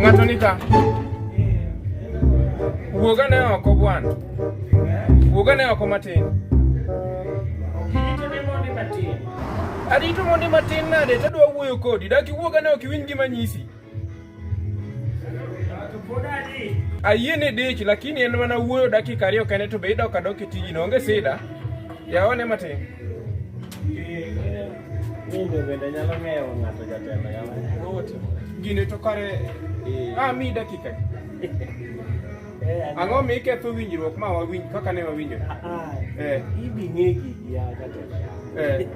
Ngatonika. Wuoga ne oko bwana. Wuoga ne oko matin. Arito mondi matin nade to adwa wuoyo kodi. Dak iwuoga ne ok iwinj gima nyisi. Ayie ni dich lakini en mana wuoyo dakika ariyo kende to be idok adok e tiji no onge sida. Yaone matin. Minde bende nyalo ng'eyo ng'ato jatelo yawa. Gine to kare. Ah, mi dakika. Eh, Ang'o mi iketho winjruok ma wawinj kaka ne wawinjo? Ah, Eh. hivi ngegi ya katela Eh.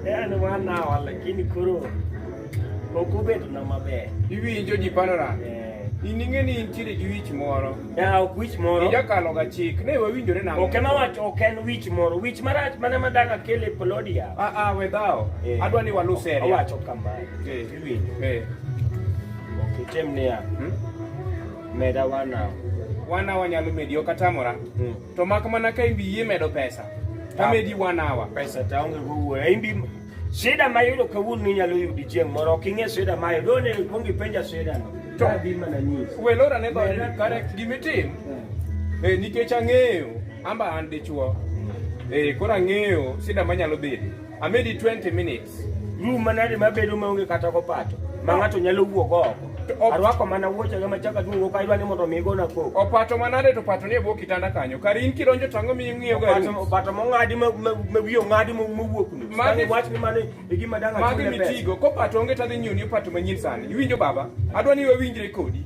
yani wanawa lakini koro ok obedo na maber Iwinjo ji panora. Eh, In ing'e ni intiere gi wich moro. ya ok wich moro Ijakalo ga chik. Ne wawinjore nang'o? ok ema wacho ok en wich moro wich marach mana madaka kele polodia Ah ah we dhawo. Eh. Adwa ni walu seria. owacho kamae Eh. iwinjo Eh. ok item niya Hmm? Meda wana. Wana wanyalo medi ok atamora. Mm. To mak mana ka imbi yie medo pesa. Ta ah. medi one hour. Pesa ta onge go wuoyo. Imbi shida ma yudo kawuono inyalo yudi chieng' moro ok ing'e shida ma yudo ne ikwong ipenja shida no. To adhi mana nyisi. We lora ne go kare gimitim. Hmm. Eh nikech ang'eyo amba an dichuo. Hmm. Eh koro ang'eyo shida manyalo bedo. Amedi 20 minutes. Rum manade mabedo maonge kata kopato ma ng'ato nyalo wuok oko. Arwako mana wuochega machaka duong' ok aywa ni mondo mi igona koko. Opato manade to opato ni e bwo kitanda kanyo. Kar in kidonjo to ang'o miyo ing'iyo ga rum? Opato mong'adi ma wiye ong'adi mowuok ni. Magi wach ni mane e gima dang' achule pesa. Magi mitigo. Kopato onge tadhi nyiew ni opato manyien sani. Iwinjo baba? Adwa ni wawinjre kodi.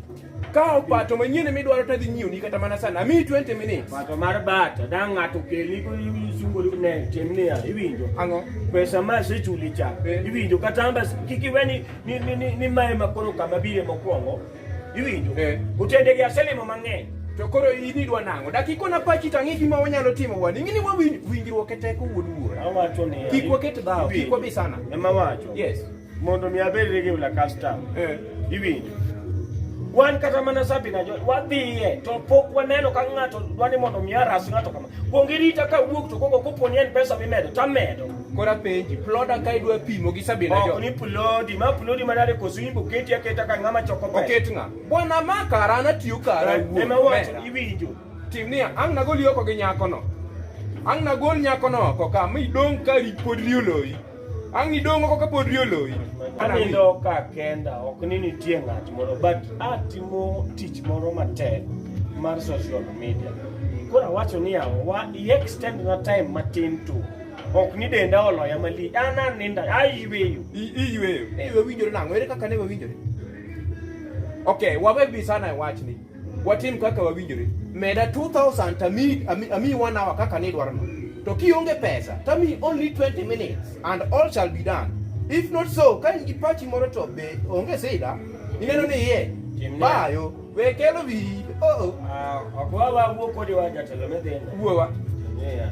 Kawo pato manyien midwaro to adhi nyiewni kata mana sana. Amiyi 20 minutes. Pato mar bata da ng'ato kelni ko isungori ne tim niya iwinjo. Ang'o? Pesa ma asechuli cha Eh. iwinjo kata amba kik iwe ni ni ni, ni, ni mae ma koro kama bire mokwongo iwinjo. Eh. Otendegi aselimo mang'eny. To koro in idwa nang'o? Dak ikona pachi to ang'e gima wanyalo timo wan. Ing'e ni wawinj winjruok e teko wuod wuora. Awacho ni Kik waket dhawo, kik wabi sana. Ema wacho. Yes. mondo mi abed rege ula custom eh ibinjo wan kata mana sabi na wadhiye to pok waneno ka ng'ato dwani mondo mi aras ng'ato kama kuong irita ka wuok to koko kopo ni en pesa mimedo to amedo kora penji ploda ka idwa pimo gi sabi na jo ni plodi ma plodi ma dare koso imbo keti aketa ka ng'ama choko pesa oket ng'a bwana ma kara na tiyo kara wuok ema wacho iwinjo tim niya ang' nagol yoko gi nyakono ang' nagol nyakono oko ka mi dong' ka pod rioloyi Ang' nidong' oko kapod ri oloyi. Anindo ka kenda ok ni nitie ng'at moro but atimo tich moro matek mar social media. Koro awacho ni yawa wa i extend na time matin tu. Ok ni denda oloya malich. An aninda ayweyo. I- Iyweyo. Ewe winjore nang'o? Ere kaka ne wawinjore? Okay, wawe bi sana e wachni. watim kaka wawinjore meda 2000 tami ami one hour kaka ni dwarno to kionge pesa tami only 20 minutes and all shall be done if not so ka in gi pachi moro to be onge sida ineno ni ye bayo we kelo bi oh oh ah, akwa wa wuo kodi wa jatelo medenda wuowa yeah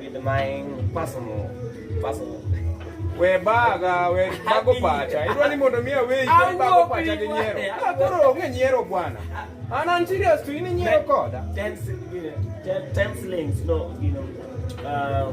With my personal, personal. We baga, we bago pacha. Idwa ni mondo miya we ikoni bago pacha gi nyiero. Ah, koro onge nyiero bwana. An an serious to in nyiero koda. Ten, ten, ten slings, no, you know. Uh,